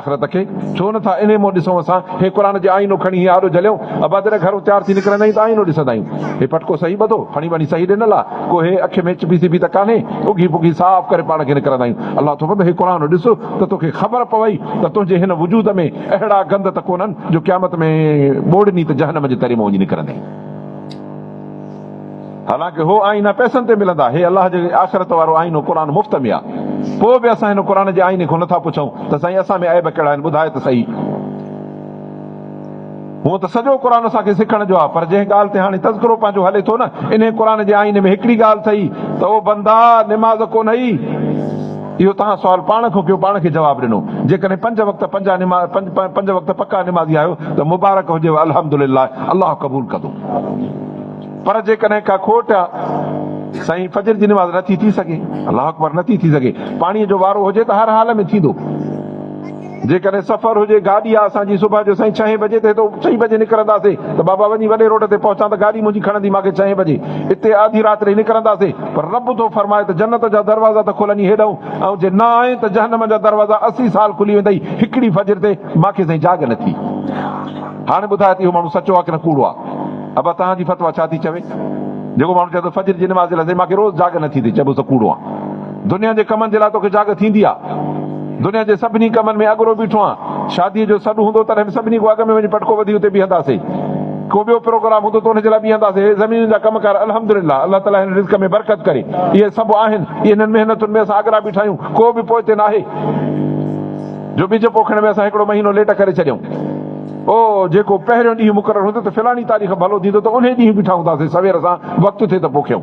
آخرت کي ڇو نه ٿا انهي منهن ڏسون اسان هي قرآن جي آئينو کڻي هي آڏو جهليون ابا جڏهن گهرون تيار ٿي نڪرندا آهيون ته آئينو ڏسندا آهيون هي پٽڪو صحيح ٻڌو کڻي وڃي صحيح ڏنل آ ڪو هي اک ۾ چپي سپي ته ڪانهي اگهي پگهي صاف ڪري پاڻ کي نڪرندا آهيون الله ٿو فرمائي هي قرآن ڏس ته توکي خبر پوي ته تنهنجي هن وجود ۾ اهڙا گند ته ڪونهن جو قيامت ۾ ٻوڙني ته جهنم جي تري مان وڃي نڪرندين. حالانڪ هو آئينا پئسن تي ملندا. هي الله جي آخرت وارو آئينو قرآن مفت ۾ آ. پوء به اسان هن قرآن جي آئيني کان نٿا پڇون ته سائين اسان ۾ عيب ڪهڙا آهن ٻڌاء ته سهي. هونء ته سڄو قرآن اسان کي سکڻ جو آ پر جنهن ڳالهه تي هاڻي تذڪرو پنهنجو هلي ٿو نه انهي قرآن جي آئيني ۾ هڪڙي ڳالهه ٿئي ته او بندا نماز ڪونهئي. اهو توهان سوال پاڻ کان ڪيو پاڻ کي جواب ڏنو. جيڪڏهن پنج وقت پنجا نماز پنج وقت پڪا نمازي آهيو ته مبارڪ هجيو الحمدلله الله قبول ڪندو. پر جيڪڏهن ڪا کوٽ سائين فجر جي نماز نٿي ٿي سگهي، الله اڪبر نٿي ٿي سگهي، پاڻيء جو وارو هجي ته هر حال ۾ ٿيندو. جيڪڏهن سفر هجي، گاڏي آ اسان جي صبح جو سائين ڇهين بجي تي هتو چئين بجي نڪرنداسي ته بابا وڃي وڏي روڊ تي پهچان ته گاڏي منهنجي کڻندي ماکي ڇهين بجي اتي آڌي رات رهي نڪرنداسي پر رب ٿو فرمائي ته جنت جا دروازا ته کولني هيڏئون ۽ جي نه آئين ته جهنم جا دروازا اسي سال کلي ويندئي هڪڙي فجر تي ماکي سائين جاڳ نٿي هاڻي ٻڌاء ته اهو ماڻهو سچو آ ڪنه ڪوڙو آ. ابا توهان جي فتويٰ ڇا ٿي چوي؟ جيڪو ماڻهو چوي ٿو فجر جي نماز لاء سائين مان کي روز جاڳ نه ٿي ٿئي چئبو ته ڪوڙو آهن. دنيا جي ڪمن جي لاء توکي جاڳ ٿيندي آهي؟ دنيا جي سڀني ڪمن ۾ اڳرو بيٺو آهيان. شاديء جو سڏ هوندو تڏهن به سڀني کان اڳ ۾ وڃي پٽڪو وڌي اتي بيهنداسي. ڪو ٻيو پروگرام هوندو ته ان جي لاء بيهنداسي. هي زمينن جا ڪم ڪار الحمدلله الله تعاليٰ هن رزق ۾ برڪت ڪري. اهي سڀ آهن. انهن محنتن ۾ اسان اڳرا بيٺا آهيون. ڪو به پوئتي ناهي جو ٻج پوکڻ ۾ اسان هڪڙو مهينو ليٽ ڪري ڇڏيون. او جيڪو پهريون ڏينهن مقرر هوندو ته فلاڻي تاريخ ڀلو ٿيندو ته انهي ڏينهن بيٺا هونداسين سوير سان وقت ٿئي ته پوء کيون.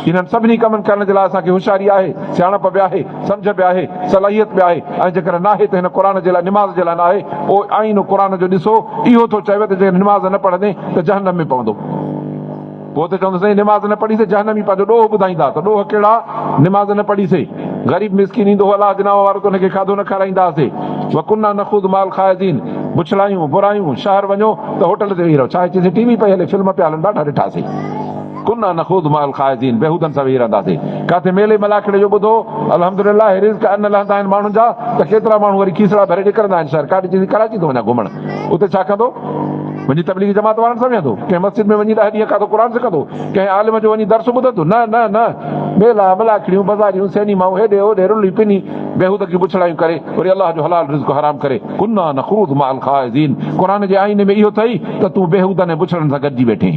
انهن سڀني ڪمن ڪرڻ جي لاء اسان کي هوشياري آهي، سياڻپ به آهي، سمجهه به آهي، صلاحيت به آهي ۽ جيڪڏهن ناهي ته هن قرآن جي لاء نماز جي لاء ناهي او آئينو قرآن جو ڏسو اهو ٿو چوي ته جيڪڏهن نماز نه پڙهندين ته جهنم ۾ پوندو. پوء ته چوندو سائين نماز نه پڙهي سي جهنمي پنهنجو ڏوهه ٻڌائيندا ته ڏوهه ڪهڙا نماز نه پڙهي سي غريب مسڪين ايندو هو الله جي نانء وارو ته ان کي کاڌو نه کارائيندا هاسي وڪنا نخوض مع الخائضين بڇڙايون برايون شهر وڃو ته هوٽل تي ويهي رهو ڇا چئيسين ٽي وي پئي هلي فلم پيا هلن ڏاڍا ڏٺا سي ڪنا نخوض مع الخائضين بيهودن سان ويهي رهندا سي ڪاٿي ميلي ملاکڙي جو ٻڌو الحمدلله رزق ان لهندا آهن ماڻهن جا ته ڪيترا ماڻهو وري کيسڙا ڀري نڪرندا آهن شهر ڪاڏي چئيسين ڪراچي ٿو وڃان گهمڻ اتي ڇا ڪندو وڃي تبليغي جماعت وارن سان ويهندو، ڪنهن مسجد ۾ وڃي ڏهه ڏينهن کاتو قرآن سکندو، ڪنهن عالم جو وڃي درس ٻڌندو، نه نه نه، ميلا، ملاکڙيون، بزاريون، سئنيمائون، هيڏي هوڏي رلي پني، بيهودگيون بڇڙايون ڪري، وري الله جو حلال رزق حرام ڪري، ڪنا نخوض مع الخائضين، قرآن جي آئيني ۾ اهو اٿئي ته تون بيهودن ۽ بڇڙن سان گڏجي ويٺين.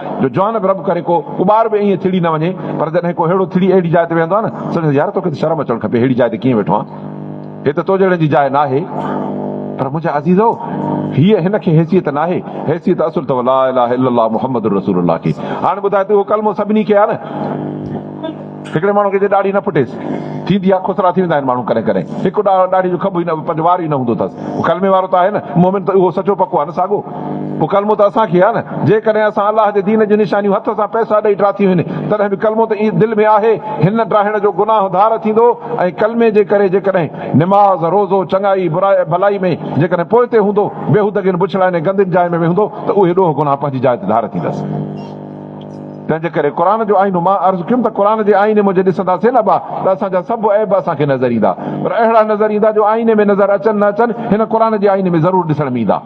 جو جوان به رب ڪري ڪو ڪٻار به ائين ٿڙي نه وڃي پر جڏهن ڪو ههڙو ٿڙي اهڙي جاء تي ويهندو آهي نه سمجهندس يار توکي ته شرم اچڻ کپي ههڙي جاء تي ڪيئن ويٺو آهين هي ته تو جهڙن جي جاء ناهي پر منهنجا عزيزو هيء هن کي حيثيت ناهي حيثيت اصل اٿو لا اله الا الله محمد رسول الله کي هاڻي ٻڌاء ته اهو ڪلمو سڀني کي آهي نه. هڪڙي ماڻهو کي جي ڏاڙهي نه ڦٽيس ٿيندي آ، خسرا ٿي ويندا آهن ماڻهو ڪڏهن ڪڏهن، هڪ ڏاڙهي جو کٻ ئي نه پنهنجو وار ئي نه هوندو ٿس، هو ڪلمي وارو ته آهي نه، مؤمن ته اهو سچو پڪو آ نه ساڳو، پوء ڪلمو ته اسان کي آ نه، جيڪڏهن اسان الله جي دين جون نشانيون هٿ سان پئسا ڏئي ڊراٿيون هين، تڏهن به ڪلمو ته دل ۾ آهي، هن ڊاهڻ جو گناهه ڌار ٿيندو ۽ ڪلمي جي ڪري جيڪڏهن نماز، روزو، چڱائي، برائي، ڀلائي ۾ جيڪڏهن پوئتي هوندو، بيهودگين بڇڙاين ۽ گندين جاين ۾ ويهندو ته اهي ڏوهه گناهه پنهنجي جاء تي ڌار ٿيندس. تنهن جي ڪري قرآن جو آئينو مان عرض ڪيم ته قرآن جي آئيني ۾ جي ڏسنداسين نه با ته اسان جا سڀ عيب اسان کي نظر ايندا پر اهڙا نظر ايندا جو آئيني ۾ نظر اچن نه اچن هن قرآن جي آئيني ۾ ضرور ڏسڻ ۾ ايندا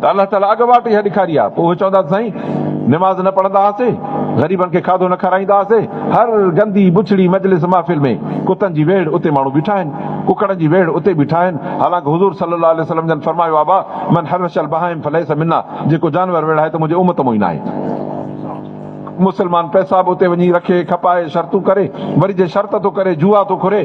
ته الله تعالي اڳ واٽ اها ڏيکاري آ پوء اهي چوندا ته سائين نماز نه پڙهندا هئاسي غريبن کي کاڌو نه کارائيندا هئاسي هر گندي بڇڙي مجلس محفل ۾ ڪتن جي ويڙهه اتي ماڻهو بيٺا آهن ڪڪڙن جي ويڙهه اتي بيٺا آهن حالانڪه حضور صلي الله عليه وسلم جن فرمايو آ با من حرش البهائم فليس منا جيڪو جانور ويڙهائي ته منهنجي امت مون ئي ناهي. مسلمان پئسا به اتي وڃي رکي، کپائي، شرطون ڪري، وري جي شرط ٿو ڪري، جوا ٿو کري،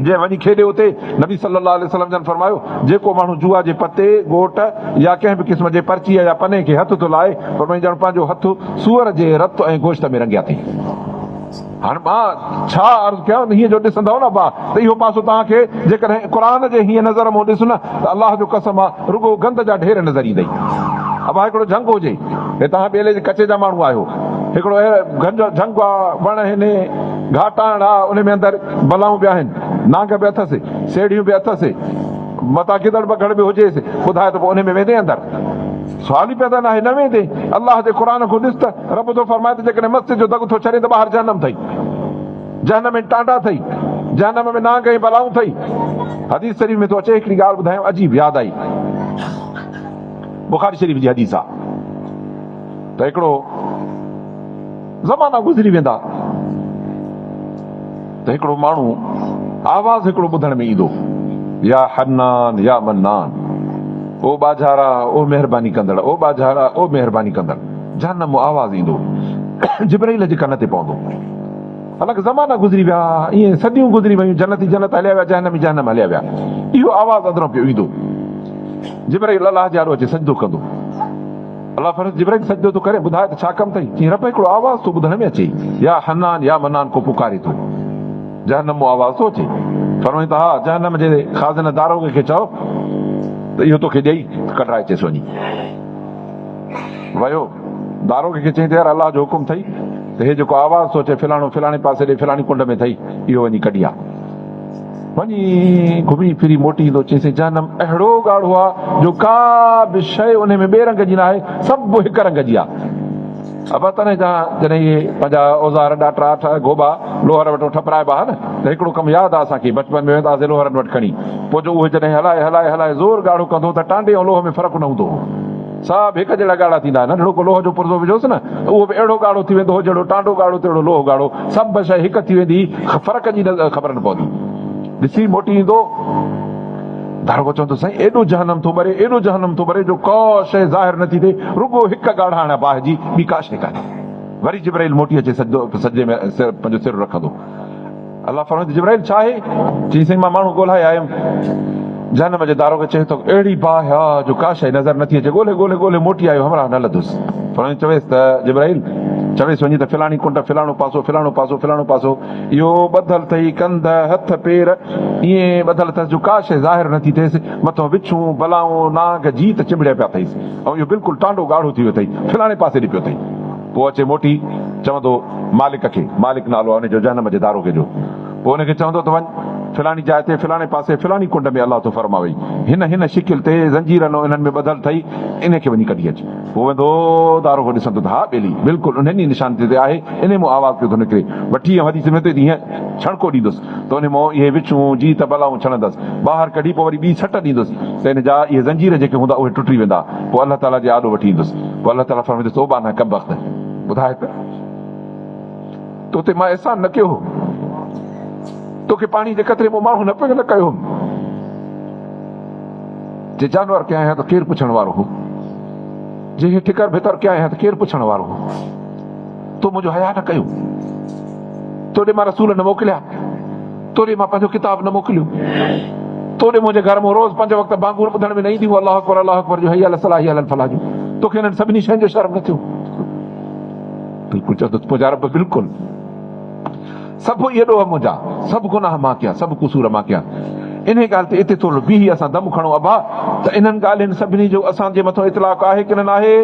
جي وڃي کيڏي اتي، نبي صلّي اللّٰه عليه وسلّم جن فرمايو، جيڪو ماڻهو جوا جي پتي، گوٽ يا ڪنهن به قسم جي پرچيء يا پني کي هٿ ٿو لائي، فرمائي ڄڻ پنهنجو هٿ سوئر جي رت ۽ گوشت ۾ رنگيا ٿئي. هاڻ مان ڇا عرض ڪيان انهيء جو ڏسندؤ نه اڀا ته اهو پاسو توهان کي جيڪڏهن قرآن جي هينئن نظر مون ڏس نه ته الله جو قسم آ رڳو گند جا ڍير نظر ايندئي اڀا هڪڙو جهنگ هجي هي توهان ٻيلي جي ڪچي جا ماڻهو آهيو هڪڙو اهڙ گهنج جهنگ آ وڻ آهن گهاٽاڻ آ انهي ۾ اندر بلائون به آهن نانگ به اٿس سيڙهيون به اٿس متان گدڙ بگهڙ به هجيس ٻڌاء ته پوء انهي ۾ ويندين اندر سوال ئي پيدا ناهي نه ويندين الله جي قرآن کون ڏس ته رب ٿو فرمائي ته جيڪڏهن مستيء جو دڳ ٿو ڇڏين ته ٻاهر جهنم ٿئي. جهنم ۾ ٽانڊا ٿئي. جهنم ۾ نانگ ۽ بلائون ٿئي. حديث شريف ۾ ٿو اچي هڪڙي ڳالهه ٻڌايان عجيب ياد آئي. بخاري شريف جي حديث آ ته هڪڙو زمانا گذري ويندا. ته هڪڙو ماڻهو آواز هڪڙو ٻڌڻ ۾ ايندو، يا حنان يا منان، او ٻاجهارا او مهرباني ڪندڙ، او ٻاجهارا او مهرباني ڪندڙ، جهنمو آواز ايندو، جبرئيل جي ڪن تي پوندو. الڪ زمانا گذري ويا، ائين صديون گذري ويون، جنتي جنت هليا ويا، جهنمي جهنم هليا ويا، اهو آواز اندران پيو ايندو، جبرئيل الله جي آڏو اچي سجدو ڪندو. الله فرشتي جبرائيل کي سجدو ٿو ڪري ٻڌاء ته ڇا ڪم اٿئي؟ چيائين رب هڪڙو آواز ٿو ٻڌڻ ۾ اچي يا حنان يا منان ڪو پڪاري ٿو جهنم مان آواز ٿو اچي فرمائين ته ها جهنم جي خازنه داروغي کي چئو ته اهو توکي ڏئي ته ڪڍرائي چيس وڃي ويو داروغي کي چيائين ته يار الله جو حڪم اٿئي ته هي جيڪو آواز ٿو اچي فلاڻو فلاڻي پاسي ڏي فلاڻي ڪنڊ ۾ اٿئي اهو وڃي ڪڍي آ. وڃي گهمي ڦري موٽي ايندو چيسين جهنم اهڙو ڳاڙهو آ جو ڪا به شيء انهي ۾ ٻئي رنگ جي ناهي سڀ هڪ رنگ جي آ ابا تنهن جا جڏهن اهي پنهنجا اوزار ڏاٽرا اٺا گهوٻا لوهر وٽو ٺپرائبا ها نه ته هڪڙو ڪم ياد آ اسان کي بچپن ۾ ويندا هئاسين لوهرن وٽ کڻي پوء جو اهي جڏهن هلائي هلائي هلائي زور ڳاڙهو ڪندو ته ٽانڊي ۽ لوهه ۾ فرق نه هوندو هو. سڀ هڪ جهڙا ڳاڙها ٿيندا. ننڍڙو ڪو لوهه جو پرزو وجهوس نه ته اهو به اهڙو ڳاڙهو ٿي ويندو هو جهڙو ٽانڊو ڳاڙهو تهڙو لوهه ڳاڙهو. سڀ شيء هڪ ٿي ويندي هئي. فرق جي خبر نه پوندي هئي. ڏسي موٽي ايندو. داروغو چوندو سائين ايڏو جهنم ٿو ٻري ايڏو جهنم ٿو ٻري جو ڪا شيء ظاهر نه ٿي ٿئي رڳو هڪ ڳاڙهاڻ باهه جي ٻي ڪا شيء ڪانهي. وري جبرائيل موٽي اچي سجدو سجدي ۾ پنهنجو سر رکندو. الله فرمائي ٿو جبرائيل ڇا آهي؟ چئي سائين مان ماڻهو ڳولهائي آيم. جهنم جي داروغي چيس ٿو اهڙي باهه آ جو ڪا شيء نظر نٿي اچي ڳولهي ڳولهي ڳولهي موٽي آيو همراهه نه لڌس. فرمائي چويس ته جبرائيل چويس وڃي ته فلاڻي ڪنڊ فلاڻو پاسو فلاڻو پاسو فلاڻو پاسو اهو ٻڌل ٿئي ڪنڌ هٿ پير ائين ٻڌل اٿس جو ڪا شيء ظاهر نٿي ٿئيس مٿو وڇون بلائون نانگ جيت چنبڙيا پيا ٿئيس ۽ اهو بلڪل ٽانڊو ڳاڙهو ٿي ويو ٿئي فلاڻي پاسي ڏي پيو ٿئي. پوء اچي موٽي چوندو مالڪ کي، مالڪ نالو آهي ان جو جهنم جي داروغي جو، پوء ان کي چوندو ته وڃ فلاڻي جاء تي فلاڻي پاسي فلاڻي ڪنڊ ۾ الله ٿو فرماوئي هن هن شڪل تي زنجيرن انهن ۾ ٻڌل اٿئي انهي کي وڃي ڪڍي اچ. پوء ويندو داروغو ڏسندو ته ها ٻيلي بلڪل انهن ئي نشانين تي آهي انهي مون آواز پيو ٿو نڪري، وٺي ايم حديث ۾ اٿئي ته هيئن ڇڻڪو ڏيندس. تنهنجي منهن اهي وڇون جي ته بلائون ڇڻندس، ٻاهر ڪڍي پوء وري ٻي سٽ ڏيندس ته ان جا اهي زنجير جيڪي هوندا اهي ٽٽي ويندا، پوء الله تعاليٰ جي آڏو وٺي ايندس، پوء الله تعاليٰ فرمائيندس او ٻانهه ڪمبخت! ٻڌاء ته تو تي مان احسان نه ڪيو هو؟ توکي پاڻي جي قطري مون ماڻهو نه پيو نه ڪيو هوم؟ جي جانور ڪيائين ها ته ڪير پڇڻ وارو هو؟ جي هي ٺڪر ڀتر ڪيائين ها ته ڪير پڇڻ وارو هو؟ تو منهنجو حياء نه ڪيو؟ تو ڏي مان رسول نه موڪليا، تو ڏي مان پنهنجو ڪتاب نه موڪليو، تو ڏي منهنجي گهر مان روز پنج وقت بانگون ٻڌڻ ۾ نه اينديون هئون الله اڪبر الله اڪبر جون، حي علي الصلاح حي علي الفلاح جون، توکي انهن سڀني شين جو شرم نه ٿيو؟ بلڪل چوندو ته منهنجا رب بلڪل سڀ اهي ڏوهه منهنجا، سڀ گناهه مان ڪيا، سڀ قصور مان ڪيا. انهيء ڳالهه تي اتي ٿورڙو بيهي اسان دم کڻون ابا ته انهن ڳالهين سڀني جو اسان جي مٿو اطلاق آهي ڪنه ناهي؟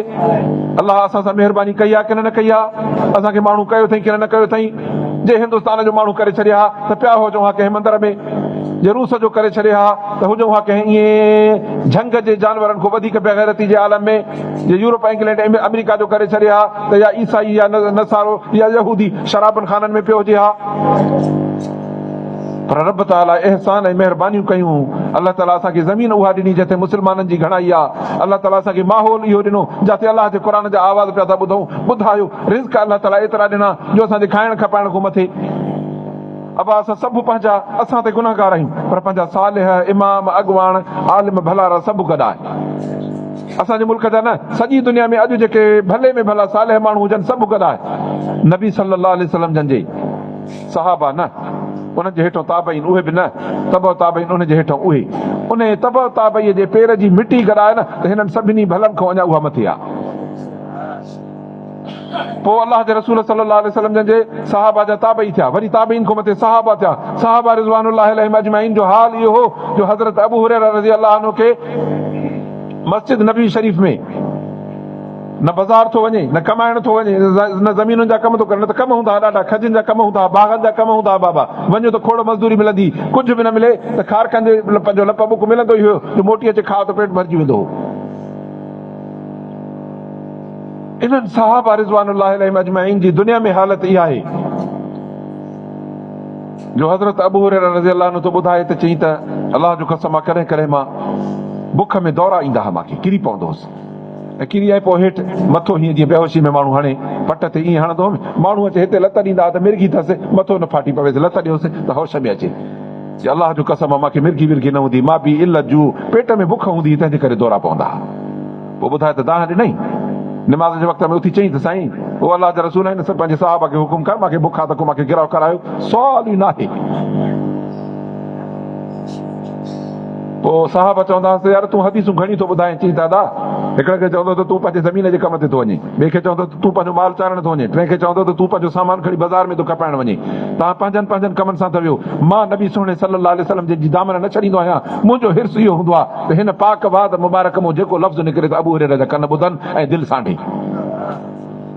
الله اسان سان مهرباني ڪئي آ ڪنه نه ڪئي آ؟ اسان کي ماڻهو ڪيو اٿئي ڪنه نه ڪيو اٿئي؟ جي هندستان جو ماڻهو ڪري ڇڏي ها ته پيا هجون ها ڪنهن مندر ۾، جي روس جو ڪري ڇڏي ها ته هجون ها ڪنهن ائين جهنگ جي جانورن کون وڌيڪ بي غيرتي جي عالم ۾، جي يورپ انگلينڊ آمريڪا جو ڪري ڇڏي ها ته يا عيسائي يا نصارو يا يهودي شرابن خانن ۾ پيو هجي ها. پر رب تعاليٰ احسان ۽ مهربانيون ڪيون، الله تعاليٰ اسان کي زمين اها ڏني جتي مسلمانن جي گهڻائي آ، الله تعاليٰ اسان کي ماحول اهو ڏنو جاتي الله جي قرآن جا آواز پيا ٿا ٻڌون، ٻڌايو، رزق الله تعاليٰ ايترا ڏنا جو اسان جي کائڻ کپائڻ کون مٿي، ابا اسان سڀ پنهنجا اسان تي گنهگار آهيون پر پنهنجا صالح، امام، اڳواڻ، عالم، ڀلارا سڀ گڏ آهن اسان جي ملڪ جا نه سڄي دنيا ۾ اڄ جيڪي ڀلي ۾ ڀلا صالح ماڻهو هجن سڀ گڏ آهن نبي صلي الله عليه وسلم جن جي صحابه نه، انهن جي هيٺئون تابعين اهي به نه، تبع تابعين انهن جي هيٺئون اهي. انهيء تبع تابعيء جي پير جي مٽي گڏائي نه ته هنن سڀني ڀلن کان اڃا اها مٿي آهي. پوء الله جي رسول صلّي اللّٰه عليه وسلّم جن جي صحابه جا تابعي ٿيا، وري تابعين کان مٿي صحابه ٿيا. صحابه رضوان الله عليهم اجمعين جو حال اهو هو جو حضرت ابو هريره رضي الله عنه کي مسجد نبوي شريف ۾. نه بزار ٿو وڃي، نه ڪمائڻ ٿو وڃي، نه زمينن جا ڪم ٿو ڪري، نه ته ڪم هوندا ها ڏاڍا، کجين جا ڪم هوندا ها، باغن جا ڪم هوندا ها بابا، وڃ ته کوڙ مزدوري ملندي، ڪجهه به نه ملي ته کارڪن جي لپن جو لپ ٻڪ ملندو ئي هيو، جو موٽي اچي کاء ته پيٽ ڀرجي ويندو هو. انهن صحابه رضوان الله عليهم اجمعين جي دنيا ۾ حالت اها آهي، جو حضرت ابوهريره رضي الله عنه ٿو ٻڌائي ته چئين ته الله جو قسم آ ڪڏهن ڪڏهن مان بک ۾ دورا ايندا ها، مان ڪري پوندو هوس، ڪيري آهي پوء هيٺ مٿو هيئن جيئن بيهوشي ۾ ماڻهو هڻي پٽ تي ائين هڻندو هوم ماڻهو اچي هتي لت ڏيندا ها ته مرگي ٿس مٿو نه ڦاٽي پويس لت ڏيوس ته هوش ۾ اچي چي الله جو قسم مان کي مرگي ورگي نه هوندي مابي علت جو پيٽ ۾ بک هوندي هئي تنهن جي ڪري دورا پوندا ها پوء ٻڌاء ته دانهن ڏنائين نماز جي وقت ۾ اٿي چئين ته سائين او الله جا رسول هن پنهنجي صحابه کي حڪم ڪر مان کي بک آ ته ڪو مان کي گرهه ڪرايو سوال ئي ناهي پوء صحابه چوندا هئس ته يار تون حديثون گهڻيون ٿو ٻڌائين چئين ته ادا! هڪڙي کي چوندو ته تون پنهنجي زمين جي ڪم تي ٿو وڃين، ٻئي کي چوندو ته تون پنهنجو مال چارڻ ٿو وڃين، ٽئين کي چوندو ته تون پنهنجو سامان کڻي بازار ۾ ٿو کپائڻ وڃين. توهان پنهنجن پنهنجن ڪمن سان ٿا ويهو. مان نبي سهڻي صلّي الله عليه وسلّم جن جي دامن نه ڇڏيندو آهيان. منهنجو حرص اهو هوندو آهي ته هن پاڪ واد مبارڪ مون جيڪو لفظ نڪري ته ابوهريره جا ڪن ٻڌن ۽ دل سانڍين.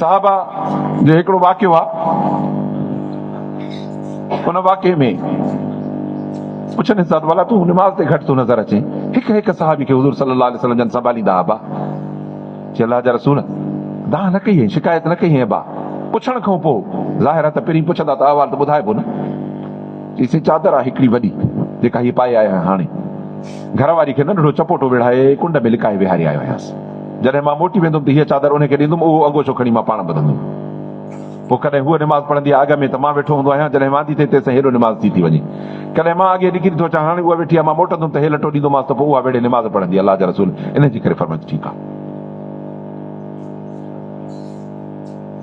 صحابه جو هڪڙو واقعو آ ان واقعي ۾ پڇن حضرت والا تون نماز تي گهٽ ٿو نظر اچين هڪ هڪ صحابي کي حضور صلي الله عليه وسلم جن سنڀاليندا ابا چي الله جا رسول دانهن نه ڪئي شڪايت نه ڪئي ابا پڇڻ کان پوء ظاهر آ ته پهرين پڇندا ته احوال ته ٻڌائبو نه چيسين چادر آ هڪڙي وڏي جيڪا هي پائي آيا آهيان هاڻي گهر واري کي ننڍڙو چپوٽو وڙهائي ڪنڊ ۾ لڪائي ويهاري آيو آهيانس جڏهن مان موٽي ويندم ته هيء چادر انهيء کي ڏيندم، اهو انگوڇو کڻي مان پاڻ ٻڌندم. پوء ڪڏهن هوء نماز پڙهندي آهي اڳ ۾ ته مان ويٺو هوندو آهيان، جڏهن واندي ٿئي تيسين هيڏو نماز ٿي ٿي وڃي. ڪڏهن مان اڳيئي نڪري ٿو اچان، هاڻي اها ويٺي آهي، مان موٽندم ته هيء لٽو ڏيندومانس ته پوء اها ويڙهي نماز پڙهندي. الله جا رسول انهيء جي ڪري فرمائن ته ٺيڪ آهي.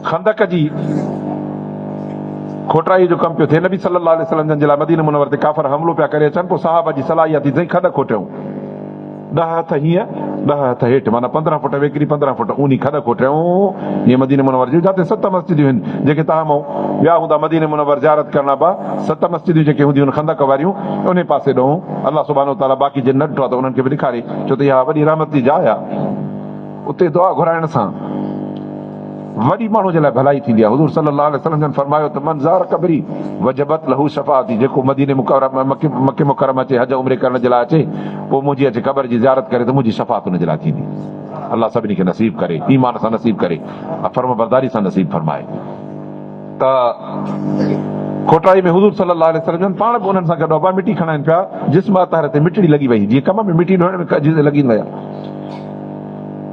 خندق جي کوٽرائيء جو ڪم پيو ٿئي. نبي صلّي اللّٰه عليه وسلّم جن جي لاء مدينه منور تي ڪافر حملو پيا ڪري اچن، پوء صحابه جي صلاح اها ٿي ته سائين کڏ کوٽيون. ڏهه هٿ هينئن، ڏهه هٿ هيٺ، معنيٰ پندرهن فٽ ويڪري، پندرهن فٽ اونهي کڏ کوٽيائون، جيئن مديني منور جون جاتي ست مسجديون هن، جيڪي تاهم مئون ويا هوندا مديني منور زيارت ڪرڻ ابا، ست مسجديون جيڪي هونديون هن خندق واريون، انهي پاسي ڏونهون، الله سبحانه وتعاليٰ باقي جن نه ڏٺو آ ته انهن کي به ڏيکاري، ڇو ته اها وڏي رحمت جي جاء آ. اتي دعا گهرائڻ سان وڏي ماڻهو جي لاء ڀلائي ٿيندي آهي، حضور صلي الله عليه وسلم جن فرمايو ته من زار قبري وجبت له شفاعتي جيڪو مديني مڪي مڪرمه اچي حج عمري ڪرڻ جي لاء اچي پوء منهنجي اچي قبر جي زيارت ڪري ته منهنجي شفاعت ان جي لاء ٿيندي الله سڀني کي نصيب ڪري ايمان سان نصيب ڪري ۽ فرمانبرداري سان نصيب فرمائي. ته کوٽائي ۾ حضور صلّي اللّٰه عليه وسلّم جن پاڻ به انهن سان گڏ هئا، مٽي کڻائين پيا، جسم اطهر تي مٽڙي لڳي وئي، جيئن ڪم ۾ مٽي ڍوئڻ ۾ ڪجهه لڳين ويا.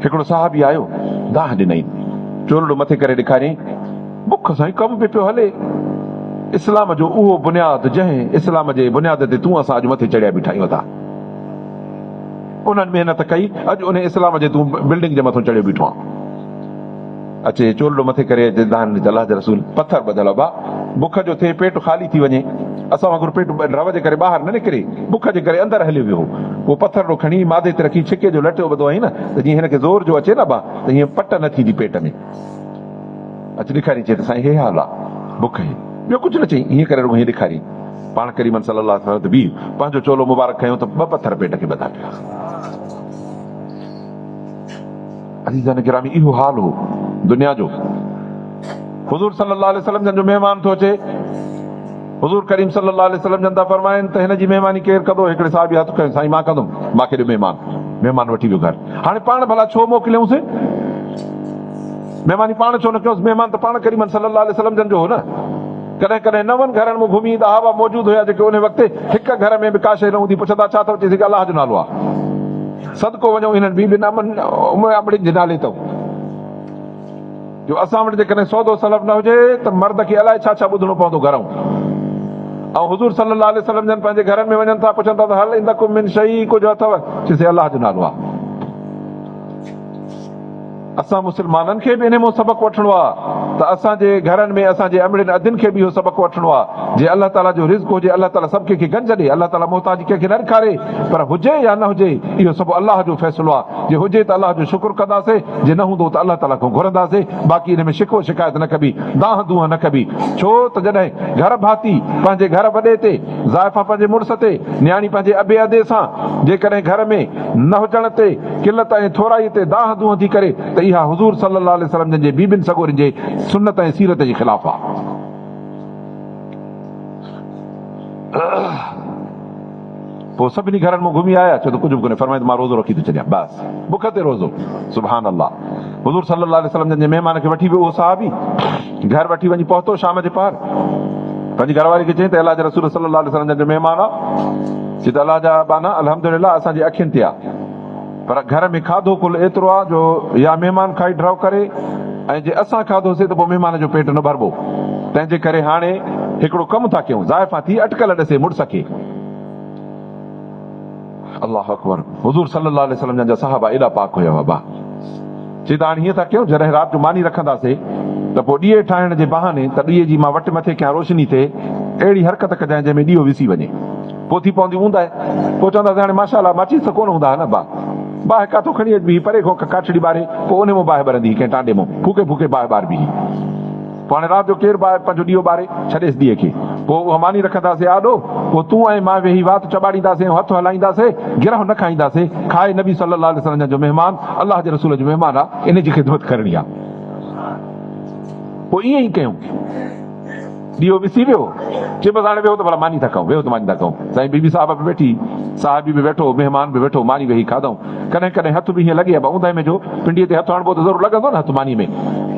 هڪڙو صحابي آيو، دانهن ڏنائين، چولڙو مٿي ڪري ڏيکاريائين، بک سان ئي ڪم به پيو هلي، اسلام جو اهو بنياد جنهن اسلام جي بنياد تي تون اسان اڄ مٿي چڙهيا بيٺا آهيون ادا! انهن محنت ڪئي، اڄ انهي اسلام جي تون بلڊنگ جي مٿو چڙهيو بيٺو آهين. اچي چولڙو مٿي ڪري اچي دانهن ڏي ته الله جا رسول پٿر ٻڌل ابا بک جو ٿئي پيٽ خالي ٿي وڃي اسان وانگر پيٽ رئو جي ڪري ٻاهر نه نڪري بک جي ڪري اندر هليو ويو هو اهو پٿرڙو کڻي مادي تي رکي ڇڪي جو لٽيو ٻڌو هئين نه ته جيئن هن کي زور جو اچي نه ابا ته هيئن پٽ نه ٿيندي پيٽ ۾ اچي ڏيکارين چئي ته سائين هي حال آ بک هي ٻيو ڪجهه نه چئين هيئن ڪري رڳو هيئن ڏيکارين پاڻ ڪريمن صلي الله عليه وسلم تي بيهي پنهنجو چولو مبارڪ کنيو ته ٻه پٿر پيٽ کي ٻڌا پيا عزيزان گرامي اهو حال هو دنيا جو حضور صلي الله عليه وسلم جن جو مهمان ٿو اچي حضور ڪريم صلي الله عليه وسلم جن ٿا فرمائن ته هن جي مهماني ڪير ڪندو هڪڙي صحابي هٿ کنيو سائين مان ڪندم مان کي ڏيو مهمان مهمان وٺي ويو گهر هاڻي پاڻ ڀلا ڇو موڪليون سي مهماني پاڻ ڇو نه ڪيوس مهمان ته پاڻ ڪريم صلي الله عليه وسلم جن جو هو نه ڪڏهن ڪڏهن نون گهرن ۾ گهمي ايندا هوا موجود هيا جيڪي ان وقت هڪ گهر ۾ به ڪا شيء نه هوندي پڇندا ڇا ٿو چئي سگهي الله جو نالو آ صدقو وڃون انهن بي بين امن اموي امڙين جي نالي تون جو اسان وٽ جيڪڏهن سودو سلف نه هجي ته مرد کي الائي ڇا ڇا ٻڌڻو پوندو گهرئون ۽ حضور صلي الله عليه وسلم جن پنهنجي گهرن ۾ وڃن ٿا پڇن ٿا ته هل عندڪم من شئي ڪجهه اٿو چيسي الله جو نالو آ. اسان مسلمانن کي به انهي مون سبق وٺڻو آ ته اسان جي گهرن ۾ اسان جي امڙين ادين کي به اهو سبق وٺڻو آ جي الله تعالي جو رزق هجي الله تعالي سڀ ڪنهن کي گنج ڏي الله تعالي محتاجي ڪنهن کي نه ڏکاري پر هجي يا نه هجي اهو سڀ الله جو فيصلو آ جي هجي ته الله جو شڪر ڪنداسي جي نه هوندو ته الله تعالي کون گهرنداسي باقي انهي ۾ شڪوه شڪايت نه ڪبي دانهن دونهن نه ڪبي ڇو ته جڏهن گهر ڀاتي پنهنجي گهر وڏي تي زائفا پنهنجي مڙس تي نياڻي پنهنجي ابي ادي سان جيڪڏهن گهر ۾ نه هجڻ تي قلت ۽ ٿورائي تي دانهن دونهن ٿي ڪري ته اها حضور صلي الله عليه وسلم جن جي بيبين سڳورين جي سنت ۽ سيرت جي خلاف آ. پوء سڀني گهرن مون گهمي آيا ڇو ته ڪجهه به ڪونهي فرمائي ته مان روزو رکي ٿو ڇڏيان بس بک تي روزو سبحان الله حضور صلي الله عليه وسلم جن جي مهمان کي وٺي ويو اهو صحابي گهر وٺي وڃي پهتو شام جي پهر پنهنجي گهر واري کي چيائين ته الله جي رسول صلي الله عليه وسلم جن جو مهمان آ چي ته الله جا ٻانها الحمد لله اسان جي اکين تي آ پر گهر ۾ کاڌو ڪل ايترو آ جو يا مهمان کائي ڍرو ڪري ۽ جي اسان کاڌو سي ته پوء مهمان جو پيٽ نه ڀربو تنهن جي ڪري هاڻي هڪڙو ڪم ٿا ڪيون زائفان ٿي اٽڪل ڏسي مڙس کي. الله اڪبر حضور صلي الله عليه وسلم جان جا صحابه ايڏا پاڪ هيا بابا چي ته هاڻي هيئن ٿا ڪيون جڏهن رات جو ماني رکنداسي ته پوء ڏيئي ٺاهڻ جي بهاني ته ڏيئي جي مان وٽ مٿي کيان روشني ٿئي اهڙي حرڪت ڪجانء جنهن ۾ ڏيئو وسي وڃي پوء ٿي پوندي اونداهي پوء چونداسي هاڻي ماشاء الله ماچيس ته ڪونه هوندا ها نه با باهه ڪاٿو کڻي اچبي هي پري کان ڪاٺڙي ٻاري پوء ان مون باهه ٻرندي هي ڪنهن ٽانڊي مون ڦوڪي ڦوڪي باهه ٻاربي هي پوء هاڻي رات جو ڪير به آهي پنهنجو ڏيئو ٻاري ڇڏيس ڏيئي کي پوء اها ماني رکنداسين آڏو پوء تون ۽ مان ويهي وات چٻاڙينداسين ۽ هٿ هلائينداسين گرهه نه کائينداسين کائي نبي صلي الله عليه وسلم جو مهمان الله جي رسول جو مهمان آ ان جي خدمت ڪرڻي آ پوء ائين ئي ڪيون ڏيئو وسي ويو چي بس هاڻي ويهو ته ڀلا ماني ٿا کائون ويهو ته ماني ٿا کائون سائين بي بي صاحبه به ويٺي صاحبي به ويٺو مهمان به ويٺو ماني ويهي کاڌائون. ڪڏهن ڪڏهن هٿ به هيئن لڳي ها، اوندهه ۾ جو پنڊيء تي هٿ هڻبو ته ضرور لڳندو نه هٿ مانيء ۾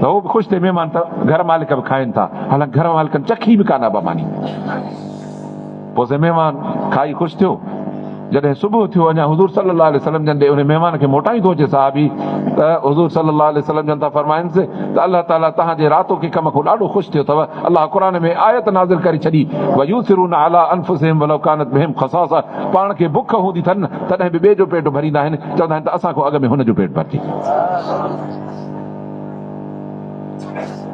ته هو به خوش ٿئي مهمان ته گهر مالڪ به کائين ٿا، حالانڪ گهر مالڪن چکي به ڪانه ابا ماني. پوء سي مهمان کائي خوش ٿيو. جڏهن صبح ٿيو اڃا حضور صلي الله عليه وسلم جن ڏي انهي مهمان کي موٽائين ٿو اچي صحابي ته حضور صلي الله عليه وسلم جن ٿا فرمائنس ته الله تعالي توهان جي راتوڪي ڪم کون ڏاڍو خوش ٿيو اٿو. الله قرآن ۾ آيت نازل ڪري ڇڏي، ويؤثرون علي انفسهم ولو ڪانت بهم خصاصه پاڻ کي بک هوندي ٿن تڏهن به ٻئي جو پيٽ ڀريندا آهن چوندا آهن ته اسان کان اڳ ۾ هن جو پيٽ ڀرجي.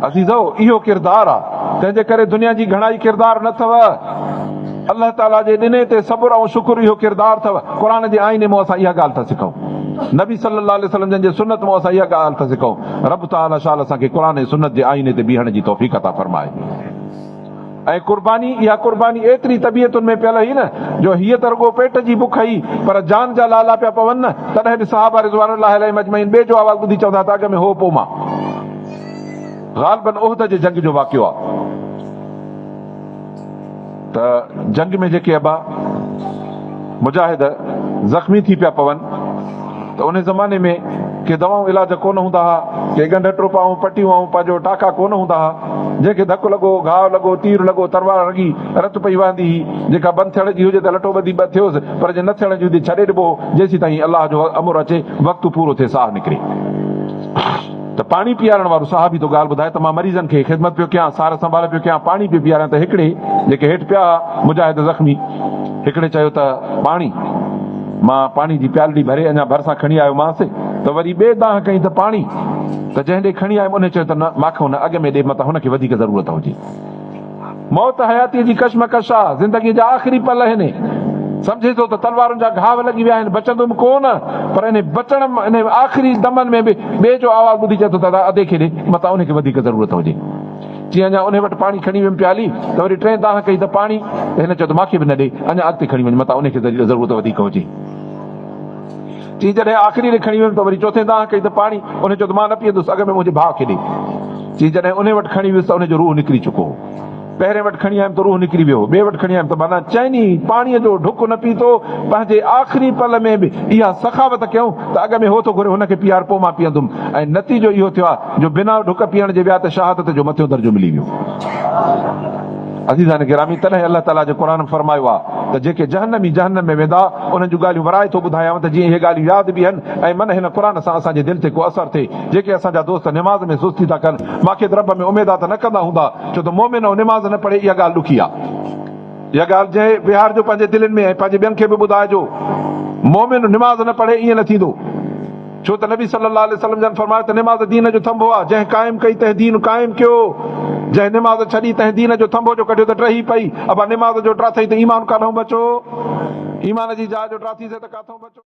عزيزو اهو ڪردار آ تنهن جي ڪري دنيا جي گهڻائي ڪردار نه اٿو الله تعالي جي ڏني تي صبر ۽ شڪر اهو ڪردار اٿو قرآن جي آئيني مون اسان اها ڳالهه ٿا سکون نبي صلي الله عليه وسلم جن جي سنت مون اسان اها ڳالهه ٿا سکون رب تعالي شال اسان کي قرآن ۽ سنت جي آئيني تي بيهڻ جي توفيق عطا فرمائي. ۽ قرباني، اها قرباني ايتري طبيعتن ۾ پيل هئي نه جو هيء ته رڳو پيٽ جي بک هئي پر جان جا لالا پيا پون نه، تڏهن به صحابه رضوان الله عليهم اجمعين ٻئي جو آواز ٻڌي چوندا ته اڳ ۾ هو پوء مان. غالباً احد جي جنگ جو واقعو آهي ته جنگ ۾ جيڪي ابا. مجاهد زخمي ٿي پيا پون ته انهي زماني ۾ ڪي دوائون علاج ڪونه هوندا ها، ڪي ڳنڍ ٽوپا ۽ پٽيون ۽ پنهنجو ٽاڪا ڪونه هوندا ها، جنهن کي ڌڪ لڳو، گهاء لڳو، تير لڳو، تروار رڳي، رت پئي وهندي هئي، جيڪا بند ٿيڻ جي هجي ته لٺو ٻڌي ٻه ٿيوس، پر جي نه ٿيڻ جي هوندي ڇڏي ڏبو هو، جيسين تائين الله جو امر اچي، وقت پورو ٿئي، ساهه نڪري. ته پاڻي پيارڻ وارو صحابي ٿو ڳالهه ٻڌائي ته مان مريضن کي خدمت پيو ڪيان، سار سنڀال پيو ڪيان، پاڻي پيو پياريان ته هڪڙي جيڪي هيٺ پيا ها مجاهد زخمي هڪڙي چيو ته پاڻي! مان پاڻي جي پيالڙي ڀري اڃا ڀرسان کڻي آيومانس ته وري ٻئي دانهن ڪئي ته پاڻي! ته جنهن ڏي کڻي آيم انهي چيو ته نه ماکئون نه اڳ ۾ ڏي متان هن کي وڌيڪ ضرورت هجي. موت حياتيء جي ڪشمڪش آ، زندگيء جا آخري پل آهن. سمجهين ٿو ته تلوارن جا گهاو لڳي ويا آهن، بچندم ڪو نه. پر انهي بچڻ، انهي آخري دمن ۾ به ٻئي جو آواز ٻڌي چئي ٿو ته ادا ادي کي ڏي، متان انهي کي وڌيڪ ضرورت هجي. چيائين اڃا انهي وٽ پاڻي کڻي ويم پيالي ته وري ٽين دانهن ڪئي ته پاڻي ته هن چيو ته مان کي به نه ڏي، اڃا اڳتي کڻي وڃ، متان انهي کي ضرورت وڌيڪ هجي. چي جڏهن آخري ري کڻي ويم ته وري چوٿين دانهن ڪئي ته پاڻي، انهن چيو ته مان نه پيئندس اڳ ۾ منهنجي ڀاء کي ڏي. چي جڏهن انهي وٽ کڻي ويس ته انهي جو روح نڪري چڪو هو. پهرين وٽ کڻي آيم ته روح نڪري ويو هو، ٻئي وٽ کڻي آيم ته معنيٰ چئني پاڻي جو ڍڪ نه پيتو، پنهنجي آخري پل ۾ به اها سخاوت ڪيائون ته اڳ ۾ هو ٿو گهري هن کي پيار پوء مان پيئندم ۽ نتيجو اهو ٿيو آهي جو بنا ڍڪ پيئڻ جي ويا ته شهادت جو مٿيون درجو ملي ويو. عزيزان گرامي! تڏهن الله تعاليٰ جي قرآن فرمايو آهي ته جيڪي جهنمي جهنم ۾ ويندا انهن جون ڳالهيون ورائي ٿو ٻڌايانء ته جيئن اهي ڳالهيون ياد بيهن ۽ من هن قرآن سان اسان جي دل تي ڪو اثر ٿئي. جيڪي اسان جا دوست نماز ۾ سستي ٿا ڪن ماکيت رب ۾ اميدا ته نه ڪندا هوندا ڇو ته مؤمن او نماز نه پڙهي اها ڳالهه ڏکي آهي. اها ڳالهه جئي ويهارجو پنهنجي دلين ۾ ۽ پنهنجي ٻين کي به ٻڌائجو مؤمن نماز نه پڙهي ائين نه ٿيندو. ڇو ته نبي صلّي اللّٰه عليه وسلّم جن فرمايو ته نماز دين جو ٿنڀو آهي، جنهن قائم ڪئي تنهن دين قائم ڪيو، جنهن نماز ڇڏي تنهن دين جو ٿنڀو جو ڪڍيو ته ٽرهي پئي، ابا نماز جو ٽراٿئي ته ايمان ڪانهون بچو، ايمان جي جاء جو ٽراٿيسين ته ڪاٿئون بچو.